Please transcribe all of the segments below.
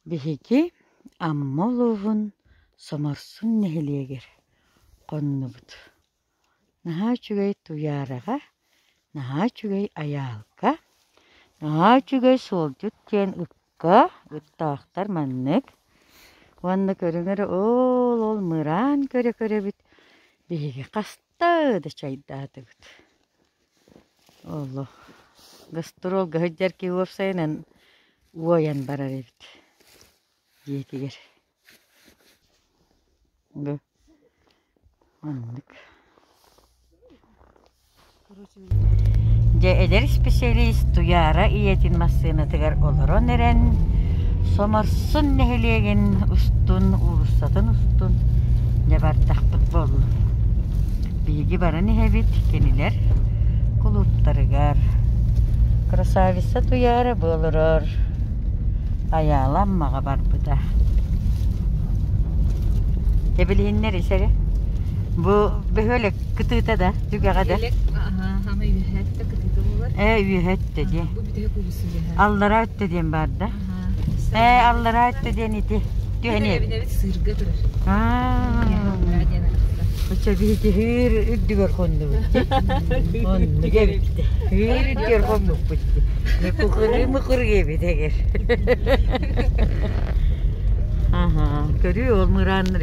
Биһиги Амма улууһун Соморсун нэһилиэгэр хоннубут. Наһаа үчүгэй Туйаараҕа, наһаа үчүгэй Айаалга, наһаа үчүгэй Суолдьут диэн ыкка, ыттаахтар маннык. Уонна көрүҥэр ол-ол мыраан көрө-көрөбүт. Биһиги хас Та да чайдаатыбыт. Олох гастролга сылдьар киһи уопсайынан уойан барар эбит дьиэтигэр. Оннук. Дьэ эдэр исписэлиис Туйаара ийэтин массыынатыгар олорон эрэн, Соморсун нэһилиэгин устун, уулуссатын устун дьэ бардахпыт буоллун. Биһиги баран иһэбит кинилэр кулууптарыгар. Красавица Туйаара бу олорор Айаала Аммаҕа барбыта. Дьэ билиһиннэр ис эрэ, бу бөһүөлэк Кытыыта да, түгэҕэ да. Ааһаама үөһэ өттө кытыыта буолар. Ээ үөһэ өттө диэн. Бу бүтэһик улуусын үөһэ. Аллараа өттө диэн баар да. Ээ аллараа өттө диэн ити. Түһэниэ. Бэбинэбит сыырга турар. Аа. диэн атахтар. Оча биһитиһир үрдүгэр хоннубут. Хоннук эбитте. Хир үрдүгэр хоннукпут. Мыкыры мыкыры эбит эгер. Аха, көрүү ол мырааннар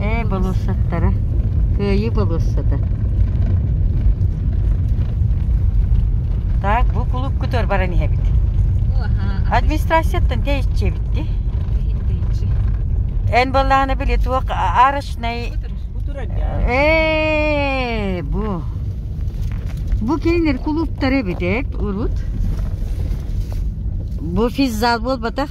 Ээ, болуоссаттара. Кыайыы болуоссата. Так, бу кулуккутугар баран иһэбит. Администрацияттан тээччэбит ди. Эн боллаана били туох арочный... Ээ, бу. Бу кейнер кулууптар эбит, урут. Бу физзал болбатах.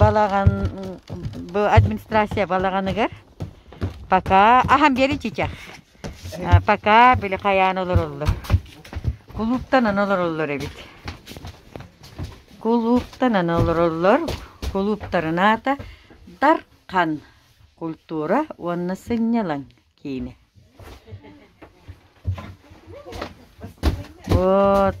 балаҕан бу администрация балаҕаныгар пока аһан биэри чичах пока били хайаан олороллор кулууптанан олороллор эбит кулууптанан олороллор кулууптарынаата дархан культура уонна сынньалаҥ киинэ вот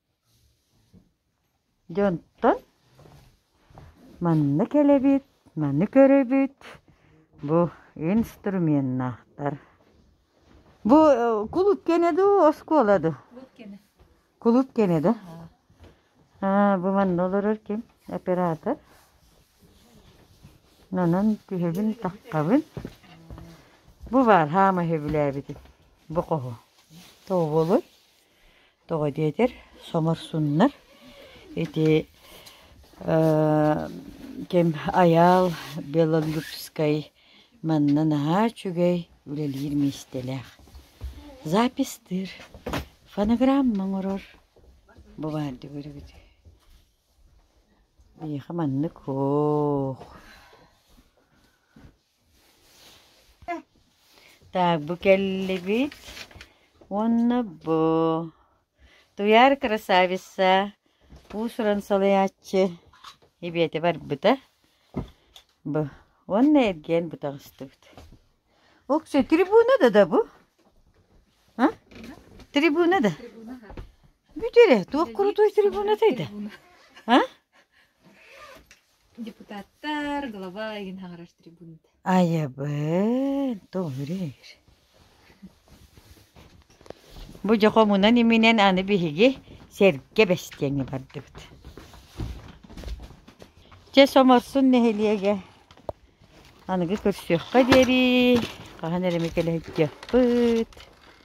Дьонтон манна кэлэбит, маны көрөбүт, бу инструменнаахтар. Бу кулуп кэнэ дуу, оскуола дуу? Кулуп кэнэ. Кулуп кэнэ да? Аа, бу манна олорор ким? Оператор. Нанан түһэбин, таххабын. Бу баар, хаама сөбүлээбитим. Бу хоһу. Тооболой. Тоҕо диэтэр, соморсуннар. Ити ким Айаал Беловлюжскай манна наһаа үчүгэй үлэлиир миэстэлээх. Запистыыр, фонограмма оҥорор. Бу баар дии көрөбүтүй. Биһиэхэ маннык, оһ Так, бу кэллибит уонна бу Туйаар красавица уус-уран салайааччы эбиэти барбыта. Бу уонна эргиэн бу таҕыстыбыт. Уксе, трибуна да да бу? А? Трибуна да? Бүтере, туох курутуй трибуна тайда? А? Депутаттар, глава игин хаҥарар трибунат. Айабын, толуреер. Бу дьохомунан иминен аны биһиги сэргэ бэстиэҥи бардыбыт. Чэ, Соморсун нэһилиэгэ аныгы көрсүөххэ диэри хаһан эрэ кэлэһиттиэхпит.